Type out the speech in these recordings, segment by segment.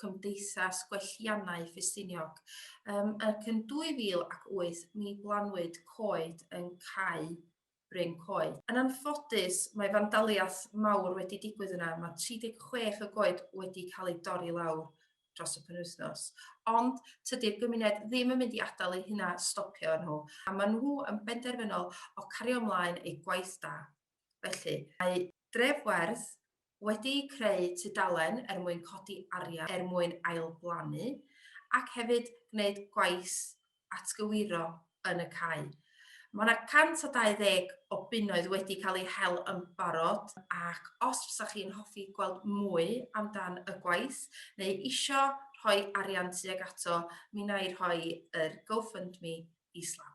Cymdeithas Gwelliannau Ffestiniog, yym, ac yn 2008 mi blannwyd coed yn Cae Bryn Coed. Yn anffodus, mae fandaliaeth mawr wedi digwydd yna, mae 36 o goed wedi cael eu dorri lawr dros y penwythnos, ond tydi'r gymuned ddim yn mynd i adael eu hunan stopio nhw, a maen nhw yn benderfynol o cario ymlaen eu gwaith da. Felly, mae Dref Werdd wedi creu tudalen er mwyn codi arian er mwyn ailblannu ac hefyd gwneud gwaith atgywiro yn y cae. Mae 'na 120 o bunnoedd wedi cael eu hel yn barod ac os fysa chi'n hoffi gweld mwy amdan y gwaith neu isio rhoi arian tuag ato, mi wna i rhoi yr GoFundMe islaw.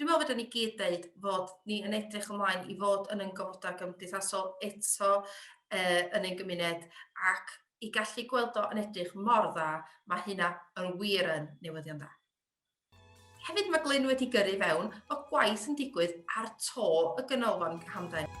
Dwi'n meddwl fedrwn ni gyd ddeud fod ni yn edrych ymlaen i fod yn ein gofodau gymdeithasol eto uh, yn ein gymuned ac i gallu gweld o yn edrych mor dda, mae hynna yn wir yn newyddion dda. Hefyd mae Glyn wedi gyrru fewn bod gwaith yn digwydd ar to y ganolfan hamdden.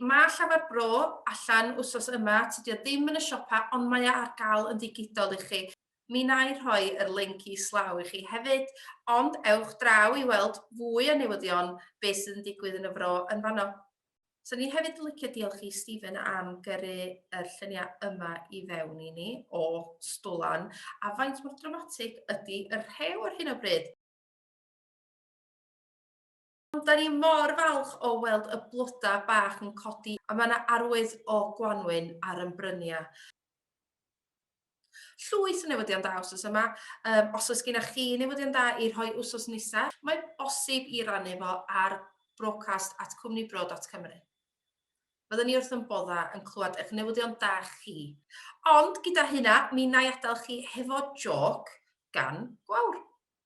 Mae Llafar Bro allan wsos yma, tydi o ddim yn y siopa ond mae o ar gael yn ddigidol i chi. Mi wna i rhoi yr linc islaw i chi hefyd, ond ewch draw i weld fwy o newyddion be sydd yn digwydd yn y Fro yn fanno. Swn i hefyd yn licio diolch i Stephen am gyrru yr lluniau yma i fewn i ni o Stwlan, a faint mor dramatig ydi y rhew ar hyn o bryd? Ond da ni mor falch o weld y bloda bach yn codi a mae 'na arwydd o gwanwyn ar yn bryniau. Llwyth o newyddion da wsos yma, um, os oes gennych chi newyddion da i rhoi wsos nesaf, mae bosib i rannu fo ar broadcast at cwmnibro.cymru. Byddwn ni wrth yn bodda yn clywed eich newyddion da chi. Ond gyda hynna, mi na i adael chi hefo joc gan gwawr.